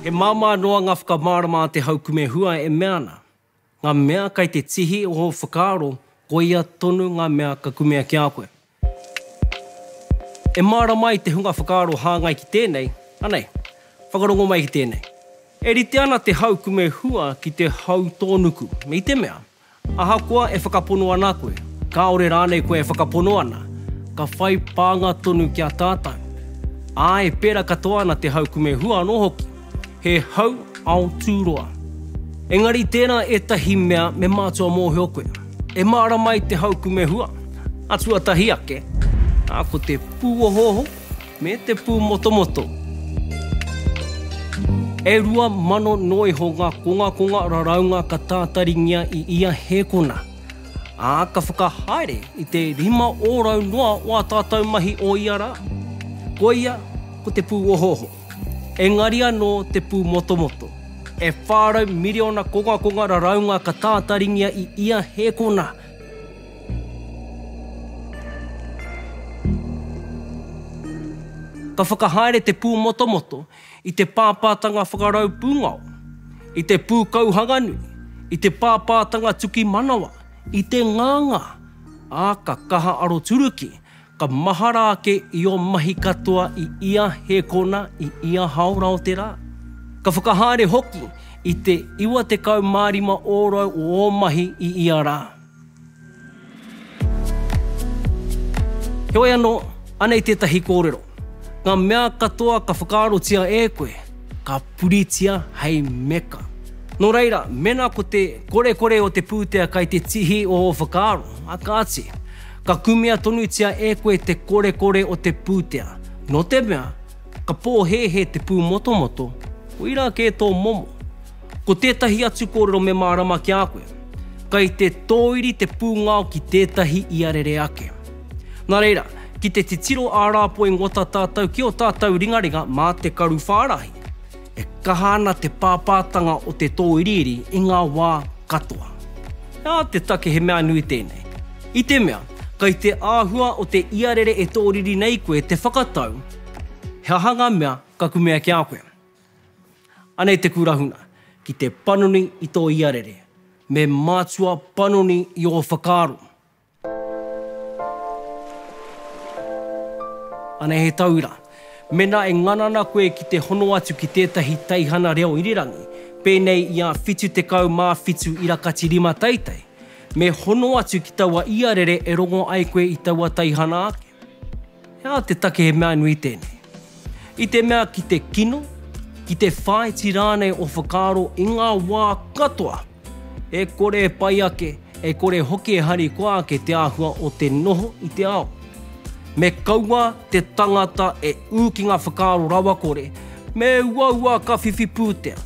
He māmā noa ngā whakamārama a te haukume hua e mea ana, ngā mea kai te tihi o ō whakaaro, koia tonu ngā mea ka kumea ki a koe. E mārama ai te hunga whakaaro hāngai ki tēnei, anei? Whakarongo mai ki tēnei. E rite ana te hau kume hua ki te hau tōnuku, i te mea, ahakoa e whakapono ana koe, kāore rānei koe e whakapono ana, ka whai pānga tonu ki a tātou. Āe, pērā katoa ana te hau kume hua anō hoki. He hau ao tūroa. Engari tērā ētahi mea me mātua mōhio koe. E mārama ai te hau kumehua, a tuatahi ake, ā, ko te pūohooho me te pūmotomoto. E rua mano noa iho ngā kongakonga raraunga ka tātaringia i ia hēkona, ā, ka whakahaere i te rima ōrau noa o ā tātou mahi o ia rā. Koia ko te pūohooho. Engari anō te pūmotomoto, e 400 miriona kongakonga raraunga ka tātaringia i ia hēkona. Ka whakahaere te pūmotomoto i te pāpātanga whakarau pūngao, i te pūkauhanganui, i te pāpātanga tuki manawa, i te nganga, ā, ka kaha aroturuki, Ka mahara ake i ō mahi katoa i ia hēkona, i ia hāora o te rā. Ka whakahaere hoki i te 95 ōrau o ō mahi i ia rā. Heoi anō, anei tētahi kōrero, Ngā mea katoa ka whakaarotia e koe, ka puritia hei meka. Nō reira, mēnā ko te korekore o te pūtea kai te tihi o ō whakaaro, a kāti, Ka kumea tonutia e koe te korekore o te pūtea, nō te mea, ka pōhēhē te pūmotomoto, koirā kē tō momo. Ko tētahi atu kōrero me mārama ki a koe, kei te tōiri te pūngao ki tētahi ia rere ake. Nā reira, ki te titiro ā-rāpoi ngota tātou ki ō tātou ringaringa mā te karu whārahi. E kaha ana te pāpātanga o te tōiriiri i ngā wā katoa. Nā te take he mea nui tēnei, i te mea, kei te āhua o te iarere e tōriri nei koe te whakatau he aha ngā mea ka kumea ki a koe. Anei te kūrahuna, ki te panoni i tō iarere, me mātua panoni i ō whakaaro, Ana he taura. Mena e ngana ana koe ki te hono atu ki tētahi teihana reo irirangi, pēnei i a 77 Irakatirima Teitei, me hono atu ki taua iarere e rongo ai koe i taua teihana ake. He aha te take he mea nui tēnei? I te mea ki te kino, ki te whāiti rānei o whakaaro i ngā wā katoa, e kore e pai ake, e kore hoki e harikoa ake te āhua o te noho i te ao. Me kaua te tangata e ū ki ngā whakaaro rawakore, me uaua ka whiwhi pūtea.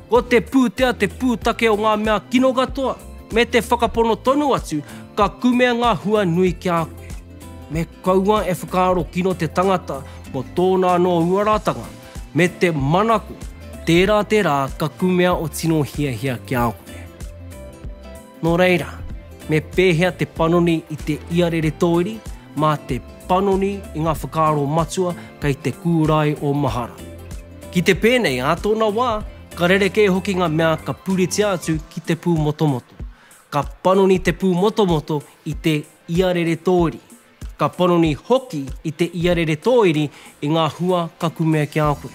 Ko te pūtea te pūtake o ngā mea kino katoa, me te whakapono tonu atu, ka kumea ngā hua nui ki a koe. Me kaua e whakaaro kino te tangata mō tōna anō uaratanga, me te manako, tērā te rā ka kumea o tino hiahia ki a koe. Nō reira, me pēhea te panoni i te iarere tōiri mā te panoni i ngā whakaaro matua kei te kūrae o mahara? Ki te pēnei, ā tōna wā, ka rerekē hoki ngā mea ka puritia atu ki te pūmotomoto. Ka panoni te pūmotomoto i te iarere tōiri. Ka panoni hoki i te iarere tōiri i ngā hua ka kumea ki a koe.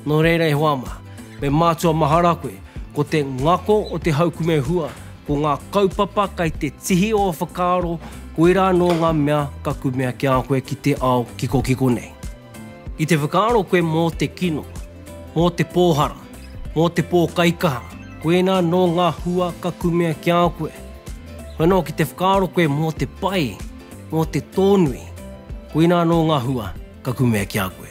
Nō reira e hoa mā, me mātua mahara koe, ko te ngako o te haukume hua, ko ngā kaupapa kai te tihi o whakaaro, koirā anō ngā mea ka kumea ki a koe ki te ao kikokiko nei. I te whakaaro koe mō te kino, mō te pōhara, mō te pōkaikaha, koinā anō ngā hua ka kumea ki a koe. Koe anō ki te whakaaro koe mō te pai, mō te tōnui, koinā anō ngā hua ka kumea ki a koe.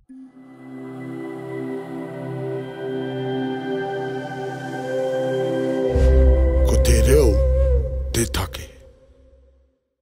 Ko te reo te take.